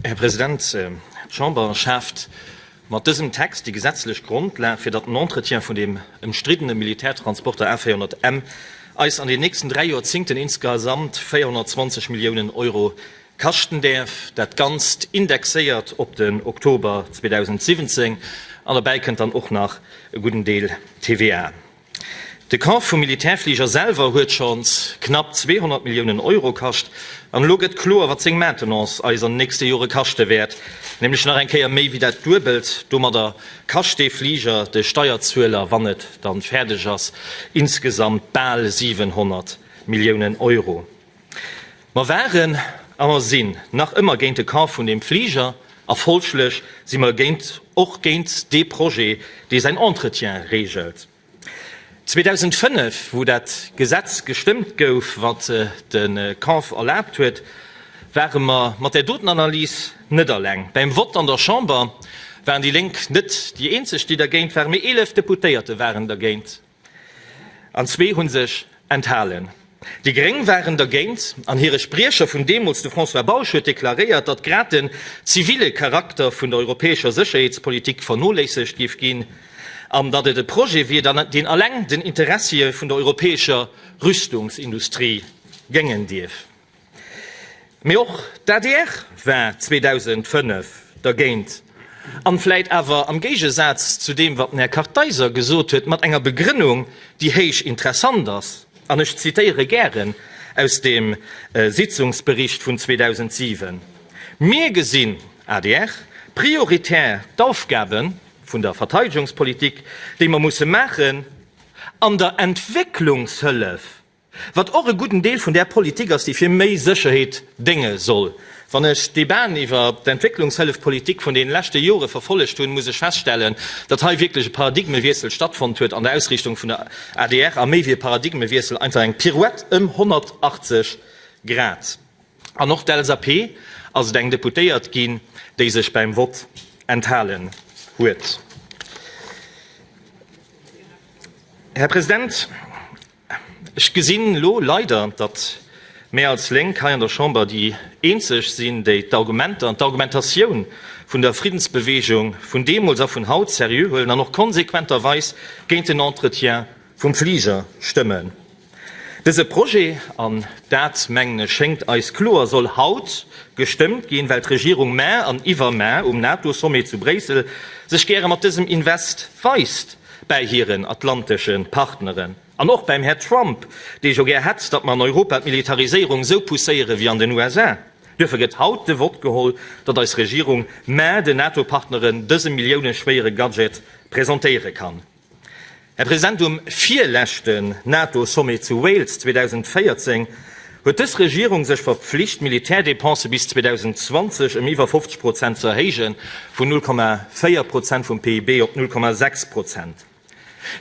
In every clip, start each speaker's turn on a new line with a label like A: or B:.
A: Här President, d'Chamber schaaft mat dësem Text déi gesetzlech Grondlag, fir datt den Entretien vun dem ëmstriddene Militärtransporter A400M eis an den nächsten dräi Joerzingten insgesamt 420 Milliounen Euro kaschten däerf, dat Ganzt indexéiert op den Oktober 2017. An derbäi kënnt dann och nach e gudden Deel TVA. De Kauf vum Militärfliger selwer huet schonns knapp 200 Milliounen Euro kascht, an elo gëtt kloer, wat seng Maintenance eis an den nächste Jore kaschte wäert, nämlech nach eng Kéier méi wéi dat Duebelt. Domadder kascht dee Fliger de Steierzueler, wann et dann fäerdeg ass, insgesamt bal 700 Milliounen Euro. Mer waren a mer sinn nach ëmmer géint de Kauf vun deem Fliger a folglech si mer géint och géint dee Projet, dee säin Entretien regelt. 2005, wou dat Gesetz gestëmmt gouf, wat de Kauf erlaabt huet, ware mer mat där doten Analys net eleng. Beim Vott an der Chamber waren déi Lénk net déi eenzeg, déi dergéint waren, mee 11 Deputéierte waren dergéint. An zwee hu sech enthalen. Déi Gréng waren dergéint an hire Spriecher vun deemools, de François Bausch, huet deklaréiert, datt grad de zivile Charakter vun der europäescher Sécherheetspolitik vernoléissegt géif ginn an datt et e Projet wier, deen eleng den Interessie vun der europäescher Rüstungsindustrie géngen dierf. Mee och d'ADR war 2005 dergéint, an vläit awer am Géigesaz zu deem wat den Här Kartheiser gesot huet, mat enger Begrënnung déi héich interessant ass, an ech zitéiere gären aus dem Sitzungsbericht vun 2007, Mir gesinn, adr, prioritär d'Aufgabe vun der Verteidegungspolitik, déi mer musse maachen, an der Entwécklungshëllef. Wat och e gudden Deel vun där Politik ass, déi fir méi Sécherheet dénge soll. Wann ech d'Debaaten iwwer d'Entwécklungshëllefpolitik vun deene leschte Jore verfollegt hunn, muss ech feststellen, datt hei wierklech e Paradigmewiessel stattfonnt huet an der Ausriichtung vun der adr, a méi wéi e Paradigmewiessel, einfach eng Pirouette ëm 180 Grad. An och d'LSAP ass et eng Deputéiert ginn, déi sech beim Vott enthalen huet. Här President, Ech gesinn elo leider, datt mär als Lénk hei an der Chamber déi eenzeg sinn, déi d'Argumenter an d'Argumentatioun vun der Friddensbeweegung vun deemools a vun haut seriö huelen an och konsequenterweis géint den Entretien vum Fliger stëmmen. Dëse Projet, an dat mengen ech schéngt eis kloer, soll haut gestëmmt ginn, well d'Regierung mar an iwwermar um NATO-Sommet zu Bréissel sech gäre mat dësem Invest weist. bäi hiren atlantesche Partneren an och bäim Här Trump, dee jo gär hätt, datt mer an Europa d'Militariséierung esou pousséiere wéi an den USA. Duerfir gëtt haut de Vott geholl, datt eis Regierung, mä den NATO-Partneren dëse millioune-schwéiere Gadget presentéiere kann. Här President, um virleschten NATO-Sommet zu Wales 2014, huet dës Regierung sech verpflicht, d'Militärdepensë bis 2020 ëm iwwer 50 Prozent ze erhéijen, vun 0,4 Prozent vum PIB op 0,6 Prozent.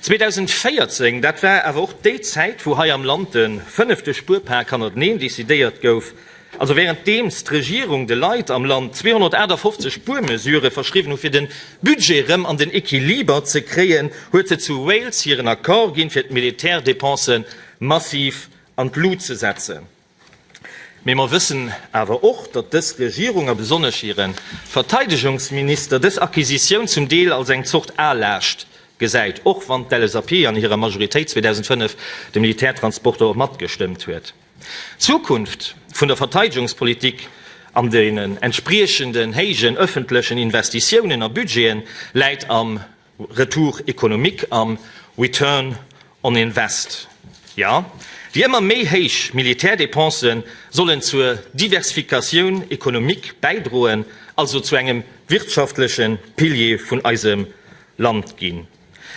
A: 2014, dat war awer och déi Zäit, wou hei am Land de fënnefte Spuerpak hannerteneen decidéiert gouf, also wärenddeems d'Regierung de Leit am Land 258 Spuermesurë verschriwwen hu fir de Budget erëm an den Equiliber ze kréien, huet se zu Wales hiren Accord ginn, fir d'Militärdepensë massiv an d'Lut ze setzen. Mee mer wëssen awer och, datt dës Regierung a besonnesch hire Verteidegungsminister dës Acquisitioun zum Deel als eng Zort Aalaascht gesäit, och wann d'LSAP an hirer Majoritéit 2005 de Militärtransporter och matgestëmmt huet. D'Zukunft vun der Verteidegungspolitik an den entspriechenden héijen ëffentlechen Investitiounen a Budgete läit am. Retour économique an Return on invest, jo, déi ëmmer méi héich Militärdépensen sollen zur Diversifikatioun économique bäidroen, also zu engem wirtschaftleche Pilier vun eisem Land ginn.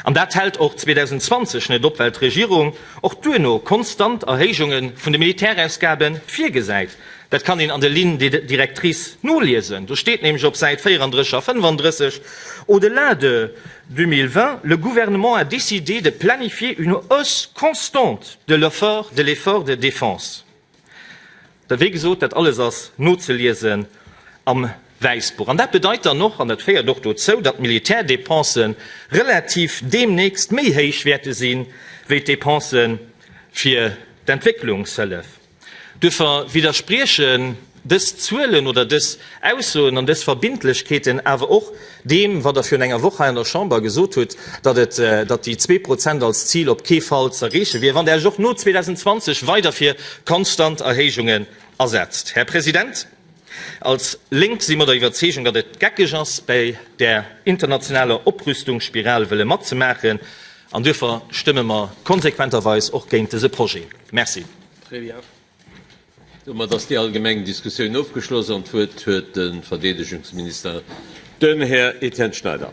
A: An dat hält och 2020 net op, well d'Regierung och duerno konstant Erhéijunge vun de Militärausgabe virgesäit. Dat kann een an de Lignes directrices noliesen. Do steet nämlech op Säit 34 a 35, Au-delà de 2020, le Gouvernement a décidé de planifier une hausse constante de l'effort de l'effort de défense. Da wéi gesot, dat alles ass nozeliesen am Wäissbuch. An dat bedeit dann och, an dat féiert och dozou, datt d'Militärdépense relativ deemnächst méi héich wäerte si wéi d'Dépense fir d'Entwécklungshëllef. Duerfir widderspriechen dës Zuelen oder dës Aussoen an dës Verbindlechkeeten awer och deem, wat Der virun enger Woch hei an der Chamber gesot hutt, datt déi zwee Prozent als Zil op kee Fall z'erreeche wier, wann Der Iech och no 2020 weider fir konstant Erhéijungen asetzt. Här President, Als Lénk si mer der Iwwerzeegung, datt et geckeg ass, bäi där internationaler Oprüstungsspiral wëlle matzemaachen, an duerfir stëmme mer konsequenterweis och géint dëse Projet. Merci. Très bien.
B: Domat ass déi allgemeng Diskussioun ofgeschloss an d'Wuert huet de Verdeedegungsminister, den Här Etienne Schneider.